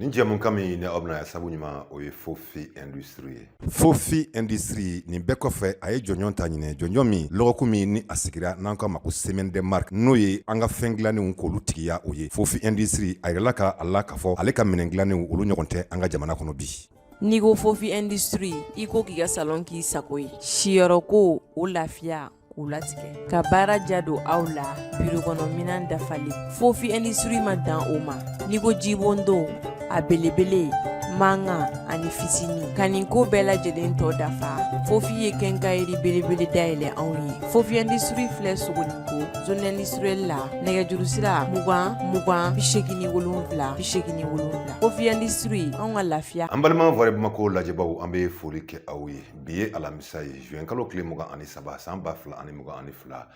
Nin jɛmukan min ni aw bɛna ya sabu ɲuman o ye Fofi Industrie ye. Fofi Industrie nin bɛɛ kɔfɛ a ye jɔnjɔn ta ɲinɛ jɔnjɔn min lɔgɔkun min ni a sigira n'an k'a ma ko semaine des marques n'o ye an ka fɛn dilannenw k'olu tigiya o ye Fofi Industrie a yirala ka a la k'a fɔ ale ka minɛn dilannenw olu ɲɔgɔn tɛ an ka jamana kɔnɔ bi. N'i ko Fofi Industrie i ko k'i ka salon k'i sago ye siyɔrɔ ko o lafiya o latigɛ ka baara ja don aw la biro kɔnɔ minɛn dafalen Fofi Industrie ma dan o ma n'i ko jibondon a belebele mankan ani fitinin ka nin ko bɛɛ lajɛlen tɔ dafa Fofi ye kɛnkayiri belebele dayɛlɛ anw ye Fofi Industrie filɛ Sogoninko zone industrielle la nɛgɛjuru sira mugan mugan bi segin ni wolonwula bi segin ni wolonwula Fofi Industrie anw ka lafiya an balima Vrai Bamako lajɛbaaw an bɛ foli kɛ aw ye bi ye alamisa ye zuwɛn kalo tile mugan ani saba san ba fila ani mugan ani fila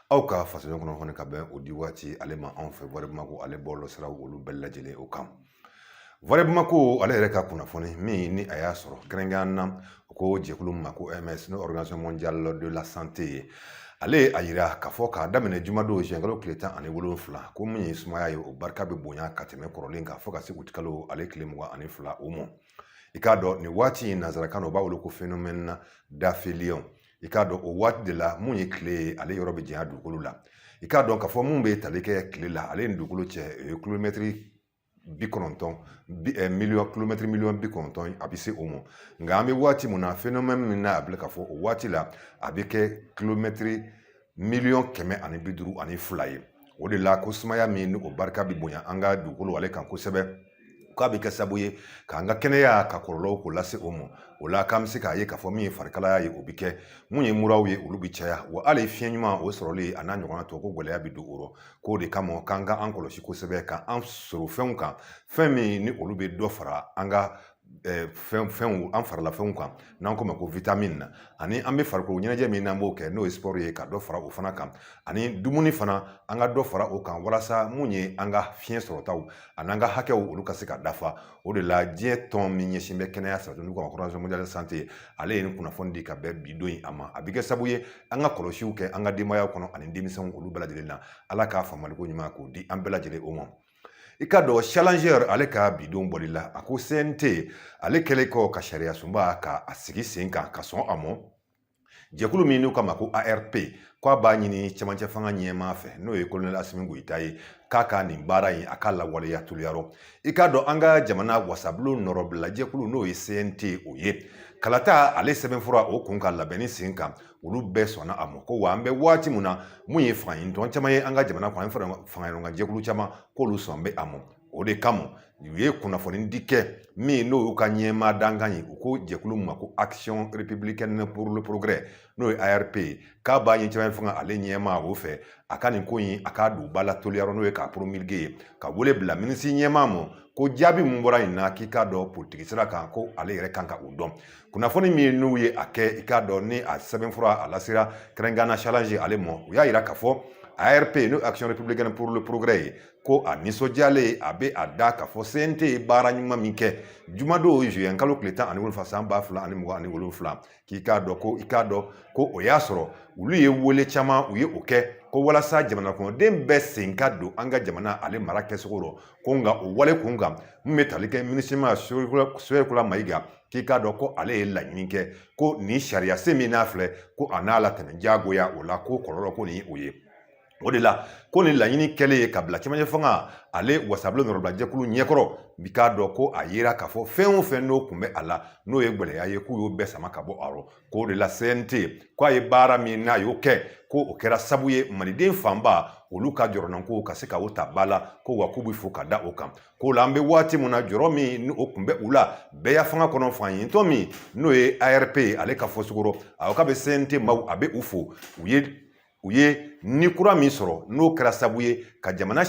aw ka fasoɲɔgɔn kunnafoni ka bɛn o di waati ale ma anw fɛ Vrai Bamako ale bɔlɔ siraw olu bɛɛ lajɛlen o kan Vrai Bamako ale yɛrɛ ka kunnafoni min ni a y'a sɔrɔ kɛrɛnkɛrɛnnenya na U ko jɛkulu ma ko OMS n'o Organisation mondiale de la santé ye ale ye a yira k'a fɔ k'a daminɛ jumadon zuwɛnkalo tile tan ani wolonfila ko min ye sumaya ye o barika bɛ bonya ka tɛmɛ kɔrɔlen kan fɔ ka se utikalo ale tile mugan ani fila o ma i k'a dɔn nin waati in nanzarakan na u b'a wele ko phénomène d'aphélion i k'a dɔn o waati de la min ye tile ye ale yɔrɔ bɛ janya dugukolo la i k'a dɔn k'a fɔ min bɛ tali kɛ tile la ale ni dugukolo cɛ o ye kilomɛtiri bi kɔnɔntɔn eh, miliyɔn kilomɛtiri miliyɔn bi kɔnɔntɔn a bɛ se o ma nka an bɛ waati min na phénomène min na a bɛ k'a fɔ o waati la a bɛ kɛ kilomɛtiri miliyɔn kɛmɛ ani bi duuru ani fila ye o de la ko sumaya min ni o barika bɛ bonya an ka dugukolo ale kan kosɛbɛ k'a bɛ kɛ sababu ye k'an ka kɛnɛya ka kɔlɔlɔw k'o lase o ma o la k'an bɛ se k'a ye k'a fɔ min ye farikalaya ye o bɛ kɛ mun ye muraw ye olu bɛ caya wa hali fiɲɛ ɲuman o sɔrɔli a n'a ɲɔgɔnna tɔ ko gɛlɛya bɛ don o rɔ k'o de kama k'an ka an kɔlɔsi kosɛbɛ ka an sɔrɔ fɛnw kan fɛn min ni olu bɛ dɔ fara an ka fɛn fɛnw an fari la fɛnw kan n'an k'o ma ko witamini na ani an bɛ farikolo ɲɛnajɛ min n'an b'o kɛ n'o ye siporo ye ka dɔ fara o fana kan ani dumuni fana an ka dɔ fara o kan walasa mun ye an ka fiɲɛ sɔrɔtaw ani an ka hakɛw olu ka se ka dafa o de la diɲɛ tɔn min ɲɛsin bɛ kɛnɛya sabatili kan Organisation mondiale de la santé ale ye nin kunnafoni di ka bɛn bi don in a ma a bɛ kɛ sababu ye an ka kɔlɔsiw kɛ an ka denbayaw kɔnɔ ani denmisɛnw olu bɛɛ lajɛlen na ala k'a faamuyaliko ɲuman k'o di an bɛɛ lajɛlen o ma i k'a dɔn Challenger ale ka bi don bɔli la a ko CNT ale kɛlen kɔ ka sariya sunba ka a sigi sen kan ka sɔn a mɔ jɛkulu min n'u k'a ma ko arp k'a b'a ɲini cɛmancɛ fanga ɲɛmaa fɛ n'o ye kolonɛli asimi goyita ye k'a ka nin baara in a ka lawaleya teliya rɔ i k'a dɔn an ka jamana wasabulon nɔrɔbilajɛkulu n'o ye cnt o ye kalata ale sɛbɛnfura o kun ka labɛnni sen kan olu bɛɛ sɔnna a ma ko wa an bɛ waati min na mun ye fanga ɲinitɔn caman ye an ka jamana kɔnɔ ani faraɲɔgɔnkan jɛkulu caman k'olu sɔn bɛ a ma o de kama u ye kunnafoni di kɛ min n'o y'u ka ɲɛmaa dankan ye u ko jɛkulu ma ko action républicaine pour le progrès n'o ye ARP ye k'a b'a ɲini cɛmancɛ fanga ale ɲɛmaa o fɛ a ka nin ko in a k'a don ba la teliya rɔ n'o ye k'a promulguer ye ka wele bila minisiri ɲɛmaa ma ko jaabi min bɔra nin na k'i k'a dɔn politiki sira kan ko ale yɛrɛ kan ka o dɔn kunnafoni min n'u ye a kɛ i k'a dɔn ni a sɛbɛnfura a lasera kɛrɛnkɛrɛnna challenge ale ma u y'a yira k'a fɔ ARP n'o action républicaine pour le progrès ye ko a nisɔndiyalen a bɛ a da k'a fɔ CNT ye baara ɲuman min kɛ jumadon juin kalo tile tan ani wolonwula san ba fila ani mugan ani wolonwula k'i k'a dɔn ko i k'a dɔn ko o y'a sɔrɔ olu ye wele caman u ye o kɛ ko walasa jamana kɔnɔden bɛɛ sen ka don an ka jamana ale mara kɛcogo rɔ ko nka o wale kun kan min bɛ tali kɛ minisiri ɲɛmaa sogɛli kokala mayiga k'i k'a dɔn ko ale ye laɲini kɛ ko nin sariya sen min n'a filɛ ko a n'a latɛmɛ diyagoya o la ko kɔlɔlɔ ko nin o ye o de la ko nin laɲini kɛlen ye ka bila cɛmancɛ fanga ale wasabulon nɔrɔbilajɛkulu ɲɛkɔrɔ k'i k'a dɔn ko a yera k'a fɔ fɛn o fɛn n'o kun bɛ a la n'o ye gwɛlɛya ye k'u y'o bɛɛ sama ka bɔ a rɔ k'o de la cnt k'a ye baara min n'a y'o kɛ ko o kɛra sabu ye maliden fanba olu ka jɔrɔnanko ka se ka o ta ba la ko wa k'u bɛ fo ka da o kan k'o la an bɛ waati min na jɔrɔ min ni o kun bɛ u la bɛɛyafanga kɔnɔ fanga ɲinitɔn min n'o ye arp ale ka fɔcogo rɔ a k'a bɛ cnt maaw a bɛ u fo u ye u ye ni kura min sɔrɔ n'o kɛra sabu ye ka jamana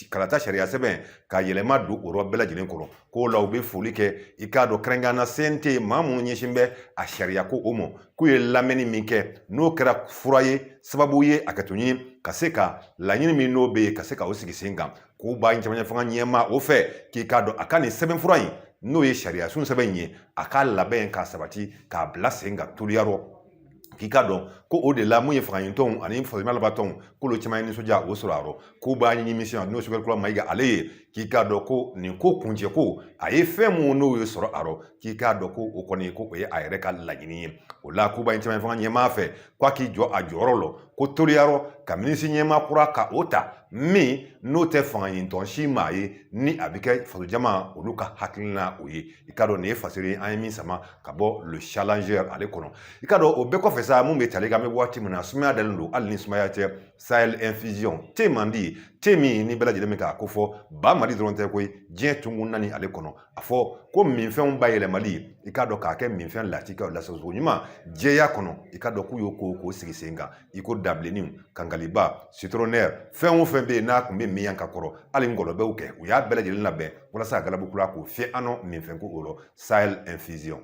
kalata sariya sɛbɛn ka yɛlɛma don o yɔrɔ bɛɛ lajɛlen kɔrɔ k'o la u bɛ foli kɛ i k'a dɔn kɛrɛnkɛrɛnna cnt maa minnu ɲɛsin bɛ a sariya ko o ma k'u ye lamɛnni min kɛ n'o kɛra fura ye sababu ye hakɛto ɲini ka se ka laɲini min n'o bɛ yen ka se ka o sigi sen kan k'u b'a cɛmancɛ fanga ɲɛmaa o fɛ k'i k'a dɔn a ka nin sɛbɛnfura in n'o ye sariya sun sɛbɛn in ye a k'a labɛn k'a sabati k'a bila sen kan teliya rɔ k'i k'a dɔn ko o de la mun ye fanga ɲinitɔnw ani fasoɲɛnabatɔw k'olu caman ye nisɔndiya o sɔrɔ a rɔ k'u b'a ɲini minisiri ɲɛmaa n'o sogɛli kokala mayiga ale ye k'i k'a dɔn ko nin ko kuncɛ ko a ye fɛn mun n'o ye sɔrɔ a rɔ k'i k'a dɔn ko o kɔni ko o ye a yɛrɛ ka laɲini ye o la k'u b'a ɲini cɛmancɛ fanga ɲɛmaa fɛ k'a k'i jɔ a jɔyɔrɔ lɔ ko teliya rɔ ka minisiri ɲɛmaa kura ka o ta min n'o tɛ fanga ɲinitɔn si maa ye ni a bɛ kɛ fasojama olu ka hakilina o ye i k'a dɔn nin ye fasiri an ye min sama ka bɔ le challenger ale kɔnɔ i k'a dɔn o bɛɛ kɔfɛ sa mun bɛ tali kan an bɛ waati min na sumaya dalen don hali ni sumaya tɛ sahel infusion te man di te min ni bɛɛ lajɛlen bɛ k'a ko fɔ ba mali dɔrɔn tɛ koyi diɲɛ tungun naani ale kɔnɔ a fɔ ko minfɛnw bayɛlɛmali i k'a dɔn k'a kɛ minfɛn latikɛw lasago ɲuman jɛya kɔnɔ i k'a dɔn k'u y'o ko k'o sigi sen kan i ko dabilenninw kangaliba sitronɛri fɛn o fɛn bɛ yen n'a tun bɛ min yan ka kɔrɔ hali ngɔlɔbɛw kɛ u y'a bɛɛ lajɛlen labɛn walasa ka galabu kura k'o fiyɛ an nɔ minfɛn ko o rɔ sahel infusion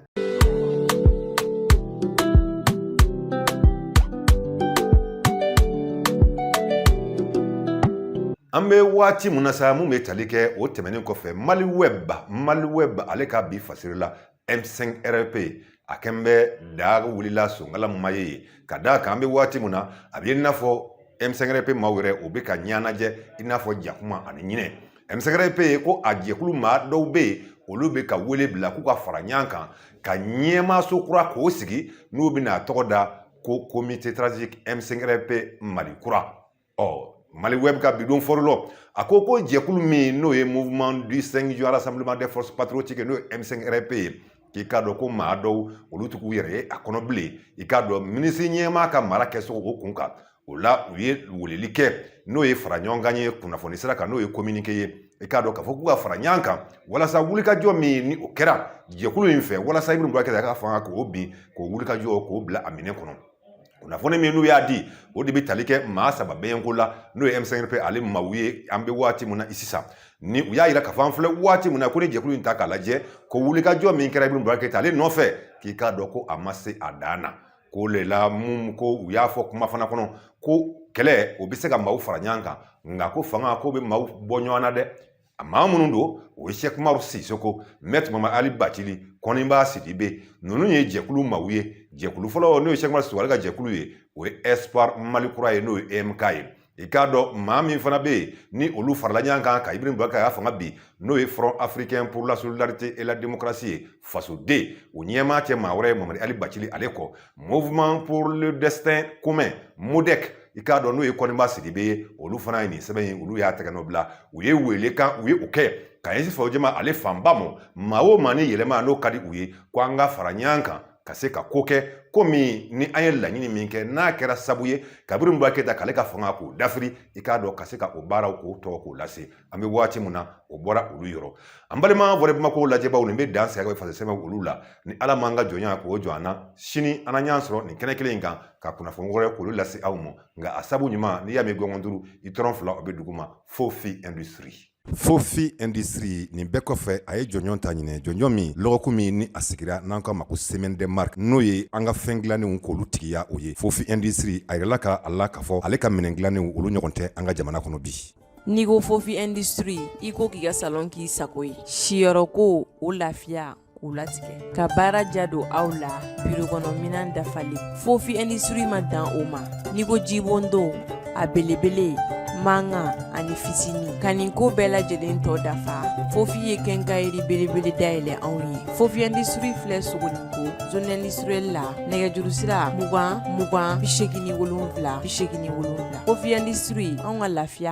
an bɛ waati mun na sa mun bɛ tali kɛ o tɛmɛnen kɔfɛ mali web mali web ale ka bi fasiri la M5RP a kɛn bɛ daa wulila sonkala ma ye ka da a kan an bɛ waati min na a bɛ i n'a fɔ M5RP maaw yɛrɛ o bɛ ka ɲɛnajɛ i n'a fɔ jakuma ani ɲinɛ M5RP ko a jɛkulu maa dɔw bɛ yen olu bɛ ka wele bila k'u ka fara ɲɔgɔn kan ka ɲɛmaaso kura k'o sigi n'u bɛna a tɔgɔ da ko comité stratégique M5RP mali kura ɔ mali web ka bidon fɔlɔ a ko ko jɛkulu min n'o ye mouvement du 5 juin rassemblement des forces patriotiques n'o ye M5RP ye k'i k'a dɔn ko maa dɔw olu tɛ k'u yɛrɛ ye a kɔnɔ bilen i k'a dɔn minisiri ɲɛmaa ka mara kɛcogo o kun kan o la u ye weleli kɛ n'o ye fara ɲɔgɔn kan ye kunnafoni sira kan n'o ye kominike ye i k'a dɔn k'a fɔ k'u ka fara ɲɔgɔn kan walasa wulikajɔ min ni o kɛra jɛkulu in fɛ walasa ibrahim boubacar keïta ka fanga k'o bin k'o wulikajɔ k'o bila a minɛ kɔnɔ kunnafoni min n'u y'a di o de bɛ tali kɛ maa saba bɛyɛnko la n'o ye M5RP ale maaw ye an bɛ waati min na i sisan ni u y'a yira k'a fɔ an filɛ waati min na ko ni jɛkulu in ta k'a lajɛ ko wulikajɔ min kɛra ibrahim boubacar keïta ale nɔfɛ k'i k'a dɔn ko a ma se a dan na k'o le la mun ko u y'a fɔ kuma fana kɔnɔ ko kɛlɛ o bɛ se ka maaw fara ɲɔgɔn kan nka ko fanga ko bɛ maaw bɔ ɲɔgɔn na dɛ A maa minnu don o ye cheick oumar sissoko maître mamadi ali bacili kɔniba sidibe ninnu ye jɛkulu maaw ye jɛkulu fɔlɔ n'o ye cheick oumar sissoko ale ka jɛkulu ye o ye espoir mali kura ye n'o ye emk ye i k'a dɔn maa min fana bɛ yen ni olu farala ɲɔgɔn kan ka ibrahim boubacar keïta fanga bin n'o ye front africain pour la solidarité et la démocratie ye fasode o ɲɛmaa tɛ maa wɛrɛ ye mamadi ali bacili ale kɔ mouvement pour le destin commun modec i k'a dɔn n'o ye kɔniba sidibe ye olu fana ye nin sɛbɛn in olu y'a tɛgɛ nɔ bila u ye wele kan u ye o kɛ ka ɲɛsin faso jama ale fanba ma maa o maa ni yɛlɛma n'o ka di u ye ko an ka fara ɲɔgɔn kan ka se ka ko kɛ ko min ni an ye laɲini min kɛ n'a kɛra sabu ye ka ibrahim boubacar keïta k'ale ka fanga k'o dafiri i k'a dɔn ka se ka o baaraw k'o tɔgɔ k'o lase an bɛ waati min na o bɔra olu yɔrɔ an balima volet Bamako lajɛbaw nin bɛ dan sigi faso sɛbɛn olu la ni ala m'an ka jɔnya k'o jɔ an na sini an ɲ'an sɔrɔ nin kɛnɛ kelen in kan ka kunnafoni wɛrɛ k'olu lase aw ma nka a sabu ɲuman n'i y'a mɛn gɔngɔn duuru i tɔrɔn fila o bɛ duguma Fofi Industrie Fofi Industrie nin bɛɛ kɔfɛ a ye jɔnjɔn ta ɲinɛ jɔnjɔn min lɔgɔku min ni a sigira n'an k'a ma ko Semaine des Marques n'o ye an ka fɛn dilannenw k'olu tigiya o ye Fofi Industrie a yirala ka a la k'a fɔ ale ka minɛn dilannenw olu ɲɔgɔn tɛ an ka jamana kɔnɔ bi N'i ko Fofi Industrie i ko k'i ka salon k'i sago ye siyɔrɔ ko o lafiya k'u latigɛ ka baara ja don aw la biro kɔnɔ minɛn dafalen Fofi Industrie ma dan o ma n'i ko jibondon a belebele mankan ani fitinin ka nin ko bɛɛ lajɛlen tɔ dafa Fofi ye kɛnkayiri belebele dayɛlɛ anw ye Fofi Industrie filɛ Sogoniko zone industrielle la nɛgɛjuru sira mugan mugan bi segin wolonwula bi segin wolonwula Fofi Industrie anw ka lafiya